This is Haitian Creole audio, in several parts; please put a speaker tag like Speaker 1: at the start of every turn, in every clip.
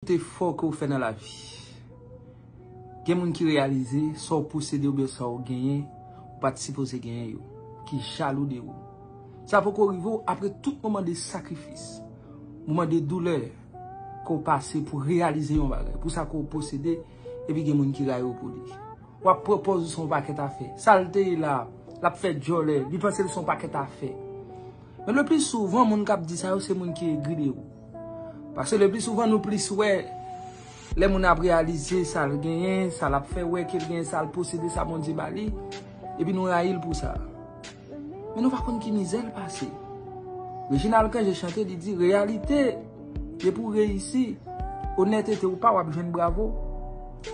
Speaker 1: Tout efò ke ou fè nan lavi, gen moun ki reyalize sa ou posede oubyen sa ou genyen, ou pa t sipoze genyen yo, ki jalou de ou. Sa poko rive ou apre tout moman de sakrifis, moman de doulè ke ou pase pou reyalize yon bagay, pou sa ke ou posede, epi gen moun ki rayi ou pou li. W ap pran pòz ou se yon pakèt afè. Sa l te ye la, l ap fè djòlè, li panse l se yon pakèt afè. Men le pli souvan moun kap di sa yo se moun ki egri de ou. Pase le pli souvan nou plis wè le moun ap realize sa l genyen, sa l ap fè wè ke l genyen, sa l posede, sa Bondye ba li, epi nou rayi l pou sa. Men nou pa konn ki mizè l pase. Reginald Cangé chante li di, reyalite depi ou reyisi, onètete ou pa w ap jwenn bravo.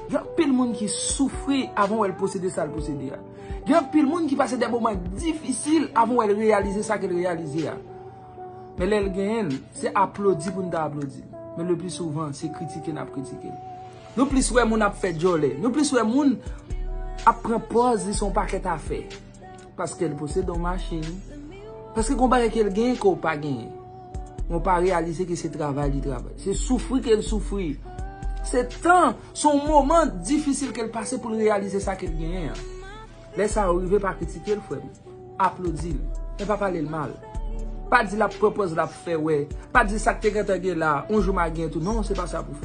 Speaker 1: Gen anpil moun ki soufri avan wè l posede sa l posede a. Gen anpil moun ki pase de moman difisil avan wè l reyalize sa ke l reyalize a. Men lè l genyen l, se aplodi pou n ta aplodi l. Men le pli souvan, se kritike n ap kritike l. Nou plis wè moun ap fè djòlè. Nou plis wè moun ap pran pòz li se yon pakèt afè. Paske l posede yon machin. Paske gon bagay ke l genyen ke w pa genyen. Men w pa reyalize ke se travay li travay. Se soufri ke l soufri. Se tan Se yon moman difisil ke l pase pou l reyalize sa ke l genyen an. Lè sa yo rive pa kritike l frè m. Aplodi l. Men pa pale l mal. Pa di l ap pran pòz l ap fè wè. Pa di sa k te gentan gen la, yon jou m a gen tou. Non, se pa sa pou w fè.